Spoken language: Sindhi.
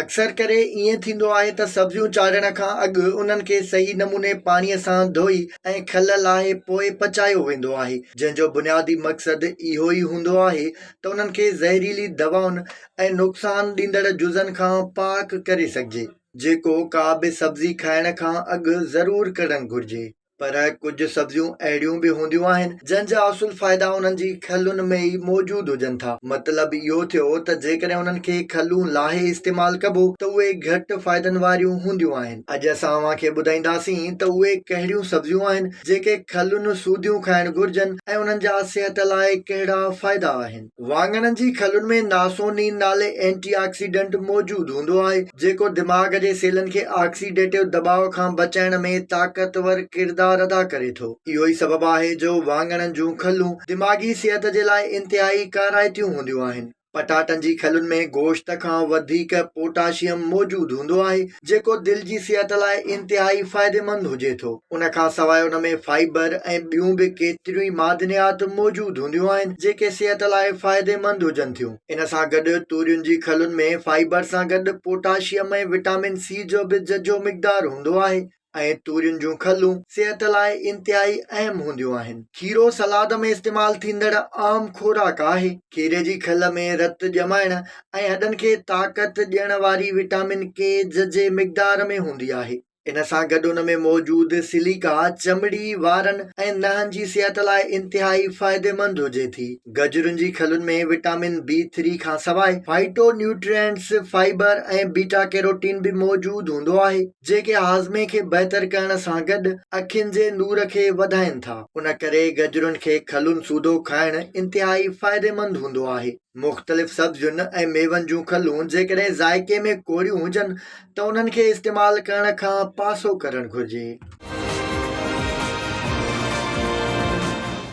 اڪثر ڪري ائين ٿيندو آهي ته سبزيون چاڙهڻ کان اڳ انهن کي صحيح نموني پاڻيء سان ڌوئي ۽ کل لاهي پوء پچايو ويندو آهي، جنهن جو بنيادي مقصد اهو ئي هوندو آهي ته انهن کي زهريلي دوائن ۽ نقصان ڏيندڙ جزن کان پاڪ ڪري سگهجي، جيڪو ڪا به سبزي کائڻ کان اڳ ضرور ڪرڻ گهرجي. پر ڪجهه سبزيون اهڙيون به هونديون آهن، جن جا اصل فائدا انهن جي کلن ۾ ئي موجود هجن ٿا. مطلب اهو ٿيو ته جيڪڏهن انهن کي کلون لاهي استعمال ڪبو ته اهي گهٽ فائدن واريون هونديون آهن. اڄ اسان اوهان کي ٻڌائينداسين ته اهي ڪهڙيون سبزيون آهن، جيڪي کلن سوڌيون کائڻ گهرجن ۽ انهن جا صحت لاء ڪهڙا فائدا آهن. واڱڻن جي کلن ۾ ناسونين نالي اينٽي آڪسيڊنٽ موجود هوندو آهي، جيڪو دماغ جي سيلن کي آڪسيڊيٽو دٻاء کان بچائڻ ۾ طاقتور ڪردار ادا ڪري ٿو. اهو ئي سبب آهي جو واڱڻن جون کلون دماغي صحت جي لاء انتهائي ڪارائتيون هونديون آهن. پٽاٽن جي کلن ۾ گوشت کان وڌيڪ پوٽاشيم موجود هوندو آهي، جيڪو دل جي صحت لاء انتهائي فائديمند هجي ٿو. ان کان سواء ان ۾ فائبر ۽ ٻيون به ڪيتريون ئي معدنيات موجود هونديون آهن جيڪي صحت لاء فائديمند هجن ٿيون. ان سان گڏ تورين جي کلن ۾ فائبر سان گڏ پوٽاشيم ۽ وٽامن سي جو به ججهو مقدار هوندو آهي ۽ تورين جون کلون صحت لاء انتهائي اهم هونديون آهن. کيرو سلاد ۾ استعمال ٿيندڙ عام خوراڪ آهي. کيري جي کل ۾ رت ڄمائڻ ۽ هڏن کي طاقت ڏيڻ واري وٽامن ڪي ججهي مقدار ۾ هوندي آهي ان سان گڏ ان ۾ موجود سليڪا چمڙي وارن ۽ نهن جي صحت لاء انتهائي فائديمند هجي ٿي گجرن جي کلن ۾ وٽامن بي ٿري کانسواء phytonutrients fibre ۽ beta carotene به موجود هوندو آهي جيڪي هاضمي کي بهتر ڪرڻ سان گڏ اکين جي نور کي وڌائين ٿا ان ڪري گجرن کي کلن سوڌو کائڻ انتهائي فائديمند هوندو آهي مختلف سبزين ۽ ميون جون کلون جيڪڏهن ذائقي ۾ ڪوڙيون هجن ته انهن کي استعمال ڪرڻ کان پاسو ڪرڻ گهرجي.